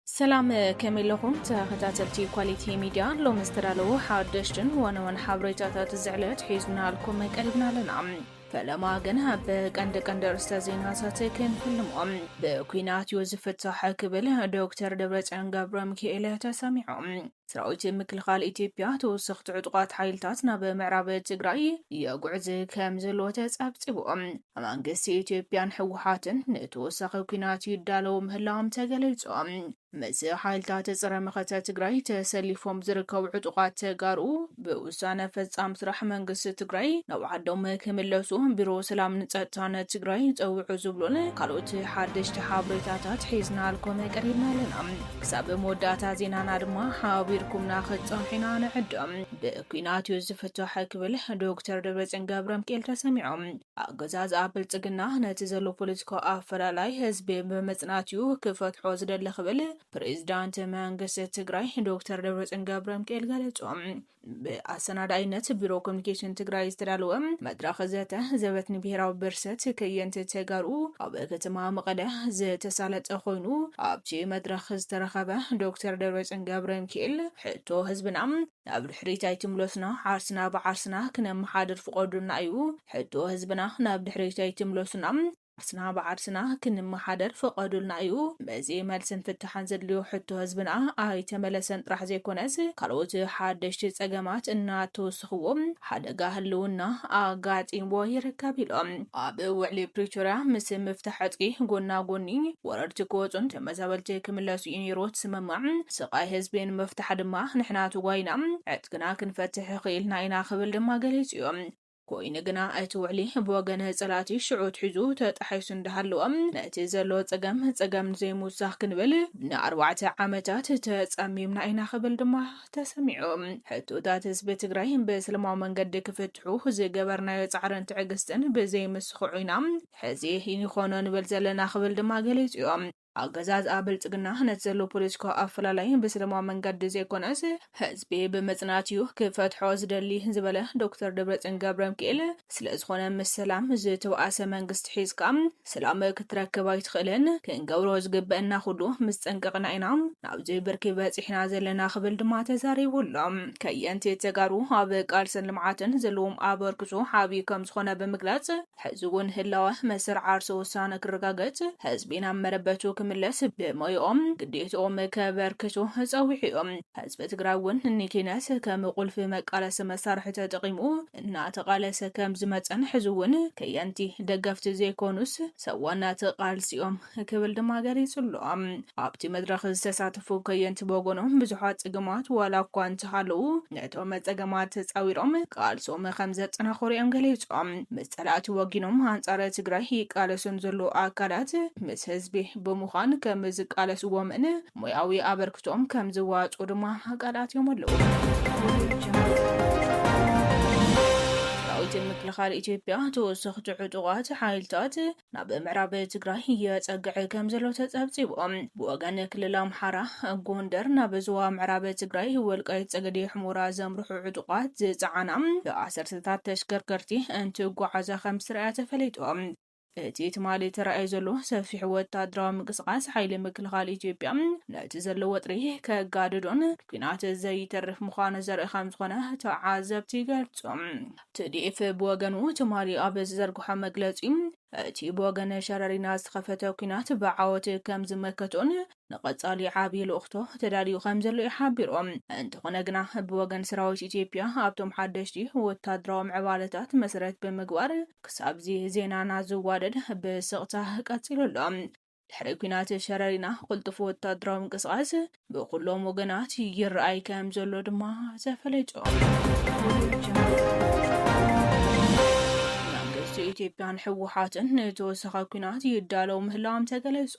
ሰላም ከመይ ኣለኹም ተኸታተልቲ ኳሊቲ ሚድያ፣ ሎሚ ዝተዳለዉ ሓደሽትን ዋና ዋና ሓበሬታታት እዚ ዕለት ሒዝናልኩም ቀሪብና ኣለና። ፈለማ ግን ኣብ ቀንዲ ቀንዲ ርእስተ ዜናታት ክንፍልሞም ብኩናት እዩ ዝፍታሕ ክብል ዶክተር ደብረፅዮን ገብረ ሚካኤል ተሰሚዖም። ሰራዊት ምክልኻል ኢትዮጵያ ተወሰኽቲ ዕጡቓት ሓይልታት ናብ ምዕራብ ትግራይ የጉዕዝ ከም ዘለዎ ተፀብፂቡ። መንግስቲ ኢትዮጵያን ህወሓትን ንተወሳኺ ኲናት ይዳለዉ ምህላዎም ተገሊፁ። ምስ ሓይልታት ፀረ መኸተ ትግራይ ተሰሊፎም ዝርከቡ ዕጡቓት ተጋሩ ብውሳነ ፈፃም ስራሕ መንግስቲ ትግራይ ናብ ዓዶም ክምለሱ ቢሮ ሰላምን ፀጥታን ትግራይ ፀውዑ ዝብሉን ካልኦት ሓደሽቲ ሓበሬታታት ሒዝናልኩም ቀሪብና ኣለና። ክሳብ መወዳእታ ዜናና ድማ ሓቢርኩምና ክፀንሑ ኢና ንዕድም። ብኲናት እዩ ዝፍታሕ ክብል ዶክተር ደብረፅዮን ገብረምኪኤል ተሰሚዖም። ኣገዛዝኣ ብልፅግና ነቲ ዘሎ ፖለቲካዊ ኣፈላላይ ህዝቢ ብምፅናት እዩ ክፈትሖ ዝደሊ ክብል ፕሬዚዳንት መንግስቲ ትግራይ ዶክተር ደብረፅዮን ገብረሚካኤል ገለፁ። ብኣሰናዳኢነት ቢሮ ኮሚኒኬሽን ትግራይ ዝተዳለወ መድረኽ ዘተ ዘበት ንብሔራዊ ብርሰት ከየንቲ ተጋሩ ኣብ ከተማ መቐለ ዝተሳለጠ ኮይኑ ኣብቲ መድረኽ ዝተረኸበ ዶክተር ደብረፅዮን ገብረ ሚካኤል ሕቶ ህዝብና ናብ ድሕሪት ኣይትምለሱና ዓርስና ብዓርስና ክነመሓድር ፍቐዱልና እዩ። ሕቶ ህዝብና ናብ ድሕሪት ኣይትምለሱና ዓርስና ብዓርስና ክንመሓደር ፍቐዱልና እዩ። በዚ መልስን ፍታሕን ዘድልዮ ሕቶ ህዝብና ኣይተመለሰን ጥራሕ ዘይኮነስ ካልኦት ሓደሽቲ ፀገማት እናተወስኽዎ ሓደጋ ህልውና ኣጋጢምዎ ይርከብ ኢሎም። ኣብ ውዕሊ ፕሪቶርያ ምስ ምፍታሕ ዕጥቂ ጎና ጎኒ ወረርቲ ክወፁን ተመዛበልቲ ክምለሱ እዩ ነይሩ እቲ ስምምዕ። ስቓይ ህዝቢ ንምፍታሕ ድማ ንሕና ተጓይና ዕጥቅና ክንፈትሕ ኽኢልና ኢና ክብል ድማ ገሊፁ እዩ። ኮይኑ ግና እቲ ውዕሊ ብወገን ፀላእቲ ሽዑ ኣትሒዙ ተጣሒሱ እንዳሃለወ ነቲ ዘሎ ፀገም ፀገም ንዘይምውሳኽ ክንብል ንኣርባዕተ ዓመታት ተፀሚምና ኢና ክብል ድማ ተሰሚዑ። ሕቶታት ህዝቢ ትግራይ ብሰለማዊ መንገዲ ክፍትሑ ዝገበርናዮ ፃዕርን ትዕግስትን ብዘይምስኽዑ ኢና ሕዚ ይኾኖ ንብል ዘለና ክብል ድማ ገሊፁ ዩ። ኣገዛዝኣ ብልፅግና ነቲ ዘሎ ፖለቲካዊ ኣፈላላይ ብሰለማዊ መንገዲ ዘይኮነስ ህዝቢ ብምፅናት እዩ ክፈትሖ ዝደሊ ዝበለ ዶክተር ደብረፅዮን ገብረምኪኤል ስለዝኾነ ምስ ሰላም ዝተበኣሰ መንግስቲ ሒዝካ ሰላም ክትረክብ ኣይትኽእልን። ክንገብሮ ዝግበእና ኩሉ ምስ ጠንቀቕና ኢና ናብዚ ብርኪ በፂሕና ዘለና ክብል ድማ ተዛሪቡ ኣሎ። ከየንቲ ተጋሩ ኣብ ቃልስን ልምዓትን ዘለዎም ኣበርክቶ ዓብዪ ከምዝኾነ ብምግላፅ፣ ሕዚ'ውን ህላወ መስርዕ ዓርሰ ውሳነ ክረጋገጽ፣ ህዝቢ ናብ መረበቱ ክምለስ ብሞይኦም ግዴትኦም ከበርክቱ ጸዊዑ'ዩ። ህዝቢ ትግራይ'ውን ንኪነት ከም ቁልፊ መቃለሲ መሳርሒ ተጠቒሙ እናተቓለሰ ከምዝመጸን ሕዚ'ውን ከየንቲ ደገፍቲ ዘይኮኑስ ሰብ ዋና'ቲ ቃልሲ'ዮም። ክብል ድማ ገሊጹ ኣሎ። ኣብቲ መድረኽ ዝተሳተፉ ከየንቲ ብወገኖም ብዙሓት ጸገማት ዋላ እኳ እንተሃለዉ ነቶም ጸገማት ተጻዊሮም ቃልሶም ከምዘጠናኽሩ እዮም ገሊጾም። ምስ ጸላእቲ ወጊኖም ኣንጻር ትግራይ ይቃለሱን ዘለዉ ኣካላት ምስ ህዝቢ ብምዃን ከምዝቃለስዎምን ሞያዊ ኣበርክቶኦም ከምዝዋጽኡ ድማ ቃል ኣትዮም ኣለዉ። ሰራዊት ምክልኻል ኢትዮጵያ ተወሰኽቲ ዕጡቓት ሓይልታት ናብ ምዕራብ ትግራይ የፀግዕ ከምዘሎ ተፀብፂቡ። ብወገን ክልል ኣምሓራ ጎንደር ናብ ዞባ ምዕራብ ትግራይ ወልቃይት ፀገዴ ሑሞራ ዘምርሑ ዕጡቓት ዝፀዓና ብኣሰርተታት ተሽከርከርቲ እንትጓዓዛ ከምዝተርኣያ ተፈሊጡ። እቲ ትማሊ ተራእዩ ዘሎ ሰፊሕ ወታደራዊ ምንቅስቓስ ሓይሊ ምክልኻል ኢትዮጵያ ነቲ ዘሎ ወጥሪ ከጋድዶን ኲናት ዘይተርፍ ምዃኑ ዘርኢ ከምዝኾነ ተዓዘብቲ ይገልፁ። ትዲኤፍ ብወገኑ ትማሊ ኣብ ዝዘርግሖ መግለጺ፣ እቲ ብወገን ሸረሪና ዝተኸፈተ ኲናት ብዓወት ከም ዝመከቶን ንቐጻሊ ዓቢ ልኡኽቶ ተዳልዩ ከም ዘሎ'ዩ ሓቢሩ። እንተኾነ ግና ብወገን ሰራዊት ኢትዮጵያ ኣብቶም ሓደሽቲ ወታደራዊ ምዕባለታት መሰረት ብምግባር ክሳብ'ዚ ዜናና ዝዋደድ ብስቕታ ቀጺሉ ኣሎ። ድሕሪ ኲናት ሸረሪና ቕልጡፍ ወታደራዊ ምንቅስቓስ ብኹሎም ወገናት ይረኣይ ከም ዘሎ ድማ ተፈለጡ። መንግስቲ ኢትዮጵያን ህወሓትን ንተወሳኺ ኲናት ይዳለው ምህላዎም ተገለጹ።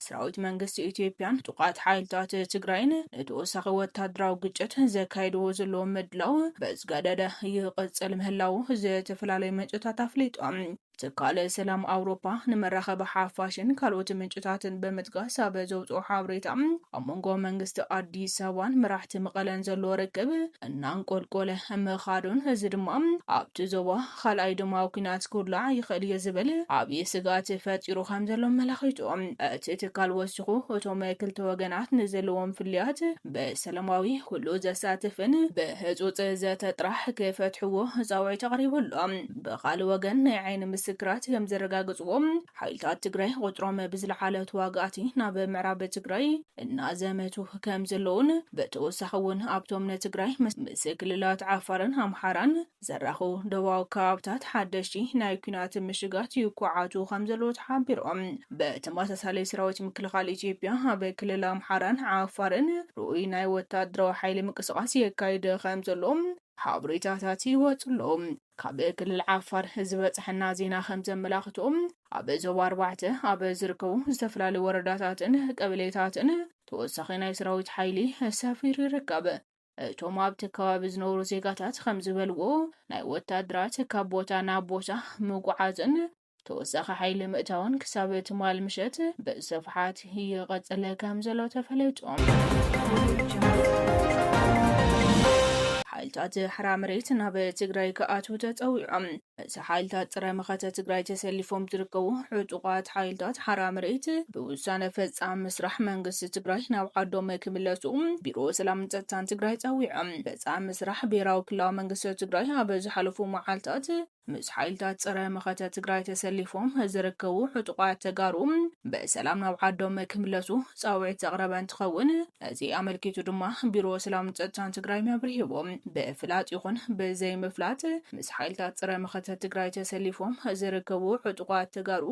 ሰራዊት መንግስቲ ኢትዮጵያን ጥቋት ሓይልታት ትግራይን ንተወሳኺ ወታደራዊ ግጭት ዘካይድዎ ዘለዎ ምድላው ብዝገደደ ይቕጽል ምህላዉ ዝተፈላለዩ ምንጭታት ኣፍሊጦም። ትካል ሰላም ኣውሮፓ ንመራኸቢ ሓፋሽን ካልኦት ምንጭታትን ብምጥቃስ ኣብ ዘውፅኦ ሓብሬታ ኣብ መንጎ መንግስቲ ኣዲስ ኣበባን መራሕቲ መቐለን ዘሎ ርክብ እናንቆልቆለ ምኻዱን እዚ ድማ ኣብቲ ዞባ ኻልኣይ ደማዊ ኩናት ክውላዕ ይኽእል እዩ ዝብል ዓብዪ ስግኣት ፈጢሩ ከምዘሎ ኣመላኺቱ እቲ ትካል ወሲኹ እቶም ክልተ ወገናት ንዘለዎም ፍልያት ብሰለማዊ፣ ኩሉ ዘሳትፍን ብህጹጽ ዘተ ጥራሕ ክፈትሕዎ ጻውዒት ኣቕሪቡ ኣሎ። ብኻልእ ወገን ናይ ዓይኒ ምስክራት ከምዘረጋግጽዎ ሓይልታት ትግራይ ቁጽሮም ብዝለዓለ ተዋጋእቲ ናብ ምዕራብ ትግራይ እናዘመቱ ከምዘለዉን ብተወሳኺ እውን ኣብቶም ንትግራይ ምስ ክልላት ዓፋርን ኣምሓራን ዝራኹ ዶባዊ ከባብታት ሓደሽቲ ናይ ኲናት ምሽጋት ይኳዓቱ ከምዘለዉ ተሓቢሩ። ብተመሳሳሊ ሰራዊት ምክልኻል ኢትዮጵያ ኣብ ክልል ኣምሓራን ዓፋርን ርኡይ ናይ ወታደራዊ ሓይሊ ምንቅስቓስ የካይድ ከምዘሎ ሓበሬታታት ይወጹ ኣለዉ። ካብ ክልል ዓፋር ዝበጽሐና ዜና ከምዘመላኽቶ ኣብ ዞባ ኣርባዕተ ኣብ ዝርከቡ ዝተፈላለዩ ወረዳታትን ቀበሌታትን ተወሳኺ ናይ ሰራዊት ሓይሊ ሰፊሩ ይርከብ። እቶም ኣብቲ ከባቢ ዝነብሩ ዜጋታት ከምዝበልዎ፣ ናይ ወታደራት ካብ ቦታ ናብ ቦታ ምጉዓዝን ተወሳኺ ሓይሊ ምእታውን ክሳብ ትማል ምሸት ብስፍሓት ይቕፅል ከምዘሎ ተፈሊጡ። ሓይልታት ሓራ መሬት ናብ ትግራይ ክኣትው ተፀዊዖም። ምስ ሓይልታት ፀረ መኸተ ትግራይ ተሰሊፎም ዝርከቡ ዕጡቓት ሓይልታት ሓራ መሬት ብውሳነ ፈፃሚ ምስራሕ መንግስቲ ትግራይ ናብ ዓዶም ክምለሱ ቢሮ ሰላምን ፀጥታን ትግራይ ፀዊዖም። ፈፃሚ ምስራሕ ብሄራዊ ክልላዊ መንግስቲ ትግራይ ኣብ ዝሓለፉ መዓልታት ምስ ሓይልታት ፀረ መኸተ ትግራይ ተሰሊፎም ዝርከቡ ዕጡቓት ተጋሩ ብሰላም ናብ ዓዶም ክምለሱ ፃውዒት ዘቕረበ እንትኸውን፣ እዚ ኣመልኪቱ ድማ ቢሮ ሰላምን ፀጥታን ትግራይ ኣብሪህዎ። ብፍላጥ ይኹን ብዘይምፍላጥ ምስ ሓይልታት ፀረ መኸተ ትግራይ ተሰሊፎም ዝርከቡ ዕጡቋት ተጋሩ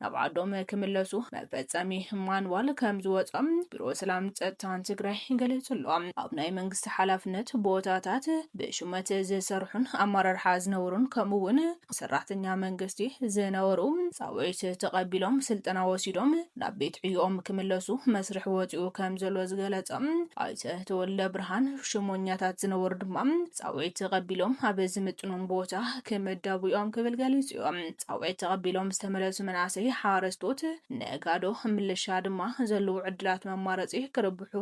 ናብ ዓዶም ክምለሱ መፈፀሚ ማንዋል ከም ዝወፆም ቢሮ ሰላምን ፀጥታን ትግራይ ገሊፁ ኣሎ። ኣብ ናይ መንግስቲ ሓላፍነት ቦታታት ብሹመት ዝሰርሑን ኣመራርሓ ዝነበሩን ከምኡ እውን ሰራሕተኛ መንግስቲ ዝነበሩ ፃውዒት ተቐቢሎም ስልጠና ወሲዶም ናብ ቤት ዕዮኦም ክምለሱ መስርሕ ወፂኡ ከምዘሎ ዝገለፀ ኣይተ ተወልደብርሃን፣ ሽሞኛታት ዝነበሩ ድማ ፃውዒት ተቐቢሎም ኣብ ዝምጥኖም ቦታ ክምደቡ እዮም ክብል ገሊፁ እዩ። ፃውዒት ተቐቢሎም ዝተመለሱ መናእሰይ፣ ሓረስቶት፣ ነጋዶ፣ ምልሻ ድማ ዘለዉ ዕድላት መማረፂ ክርብሑ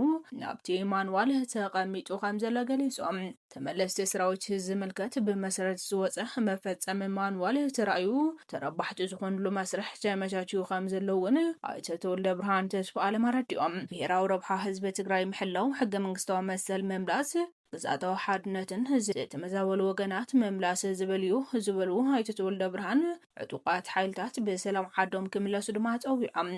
ናብቲ ማንዋል ተቐሚጡ ከምዘሎ ገሊፆም። ተመለስቲ ስራዊት ዝምልከት ብመሰረት ዝወፀ መፈፀሚ ማንዋል ተራእዩ ተረባሕቲ ዝኾንሉ መስርሕ ተመቻችዩ ከምዘሎ እውን ኣይተ ተወልደብርሃን ተስፋኣለም ኣረዲኦም። ብሄራዊ ረብሓ ህዝቢ ትግራይ ምሕላው፣ ሕገ መንግስታዊ መሰል ምምላስ፣ ግዝኣታዊ ሓድነትን ዝተመዛበሉ ወገናት ምምላስ ዝብል እዩ ዝበሉ ኣይተ ተወልደብርሃን፣ ዕጡቓት ሓይልታት ብሰላም ዓዶም ክምለሱ ድማ ፀዊዖም።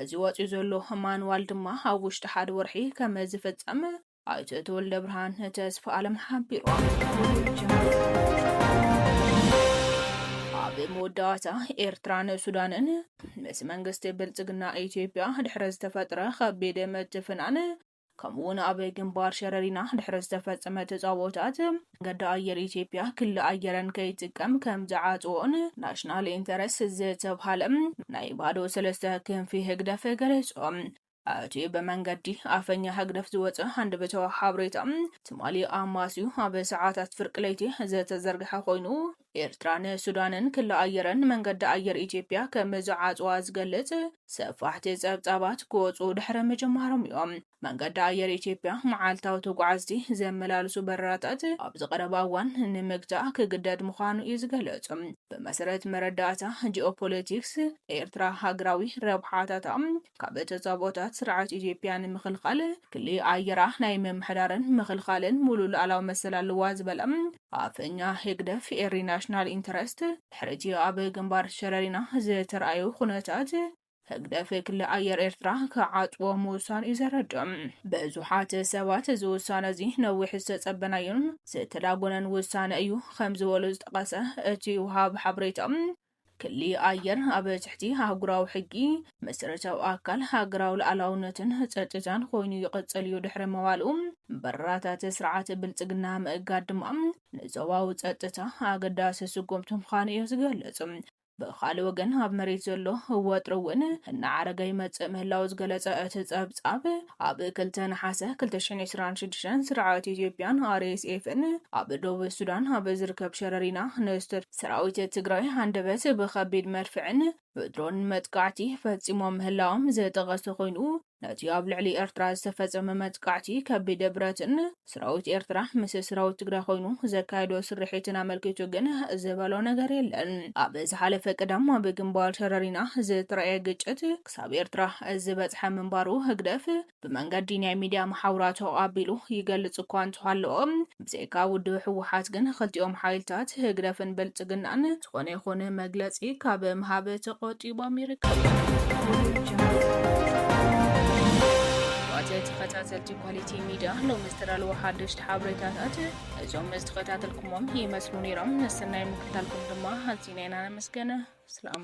እዚ ወፂኡ ዘሎ ማንዋል ድማ ኣብ ውሽጢ ሓደ ወርሒ ከምዝፍፀም ኣይተ ተወልደብርሃን ተስፋኣለም ሓቢሮምኣብ መወዳእታ ኤርትራን ሱዳንን ምስ መንግስቲ ብልጽግና ኢትዮጵያ ድሕሪ ዝተፈጥረ ከቢድ ምትፍናን ከምኡ እውን ኣብ ግንባር ሸረሪና ድሕሪ ዝተፈጸመ ተጻቦታት መንገዲ ኣየር ኢትዮጵያ ክሊ ኣየረን ከይጥቀም ከም ዝዓጽዎን ናሽናል ኢንተረስት ዝተብሃለ ናይ ባዶ ሰለስተ ክንፊ ህግደፍ ገለጾም። እቲ ብመንገዲ ኣፈኛ ህግደፍ ዝወጸ ሃንደበታዊ ሓበሬታ፣ ትማሊ ኣማስዩ ኣብ ሰዓታት ፍርቂ ለይቲ ዝተዘርግሐ ኮይኑ፣ ኤርትራ ንሱዳንን ክሊ ኣየረን ንመንገዲ ኣየር ኢትዮጵያ ከም ዝዓጽዋ ዝገልጽ ሰፋሕቲ ጸብጻባት ክወጽኡ ድሕሪ ምጅማሮም እዩ። መንገዲ ኣየር ኢትዮጵያ መዓልታዊ ተጓዓዝቲ ዘመላልሱ በረራታት ኣብዚ ቀረባ እዋን ንምግታእ ክግደድ ምዃኑ እዩ ዝገልጽ። ብመሰረት መረዳእታ ጂኦፖለቲክስ፣ ኤርትራ ሃገራዊ ረብሓታታ ካብ ተጻብኦታት ስርዓት ኢትዮጵያ ንምኽልኻል ክሊ ኣየራ ናይ ምምሕዳርን ምኽልኻልን ሙሉእ ሉኣላዊ መሰል ኣለዋ ዝበላ ኣፈኛ ህግደፍ ኤሪ ናሽናል ኢንተረስት ድሕሪ'ቲ ኣብ ግንባር ሸረሪና ዝተርኣዩ ኩነታት ህግደፍ ክሊ ኣየር ኤርትራ ክዓጽዎ ምውሳኑ'ዩ ዘረድእ። ብዙሓት ሰባት እዚ ውሳነ'ዚ ነዊሕ ዝተጸበናዮን ዝተዳጎነን ውሳነ እዩ ከም ዝበሉ ዝጠቐሰ እቲ ወሃቢ ሓበሬታ፣ ክሊ ኣየር ኣብ ትሕቲ ኣህጉራዊ ሕጊ፣ መሰረታዊ ኣካል ሃገራዊ ልኣላውነትን ጸጥታን ኮይኑ ይቕጽል እዩ ድሕሪ ምባሉ፣ በረራታት ስርዓት ብልጽግና ምእጋድ ድማ ንዞባዊ ጸጥታ ኣገዳሲ ስጉምቲ ምዃኑ እዩ ዝገልጽ። ብኻልእ ወገን ኣብ መሬት ዘሎ ወጥሪ እውን እናዓረገ ይመጽእ ምህላዉ ዝገለጸ እቲ ጸብጻብ፣ ኣብ ክልተ ነሓሰ ክልተ ሽሕን ዕስራን ሽዱሽተን ስርዓት ኢትዮጵያን RSFን ኣብ ዶብ ሱዳን ኣብ ዝርከብ ሸረሪና ንዝተ ሰራዊት ትግራይ ሃንደበት ብኸቢድ መድፍዕን ብድሮንን መጥቃዕቲ ፈፂሞም ምህላዎም ዝጠቐሰ ኮይኑ፣ ነቲ ኣብ ልዕሊ ኤርትራ ዝተፈፀመ መጥቃዕቲ ከቢድ ብረትን ሰራዊት ኤርትራ ምስ ሰራዊት ትግራይ ኮይኑ ዘካየዶ ስርሒትን ኣመልኪቱ ግን ዝበሎ ነገር የለን። ኣብ ዝሓለፈ ቀዳም ኣብ ግንባር ሸረሪና ዝተራእየ ግጭት ክሳብ ኤርትራ ዝበፅሐ ምንባሩ ህግደፍ ብመንገዲ ናይ ሚድያ መሓውራቱ ኣቢሉ ይገልፅ እኳ እንተሃለወ ብዘይካ ውድብ ህወሓት ግን ኽልቲኦም ሓይልታት፣ ህግደፍን ብልፅግናን፣ ዝኾነ ይኹን መግለፂ ካብ ምሃብ ተቖጢቦም ይርከቡ። ክቡራት ተኸታተልቲ ኳሊቲ ሚድያ ሎሚ ዝተዳለወ ሓደሽቲ ሓበሬታታት እዞም ዝተኸታተልኩሞም ይመስሉ ነይሮም። ንስናይ ምክታልኩም ድማ ኣዚና ኢና ነመስገን። ሰላም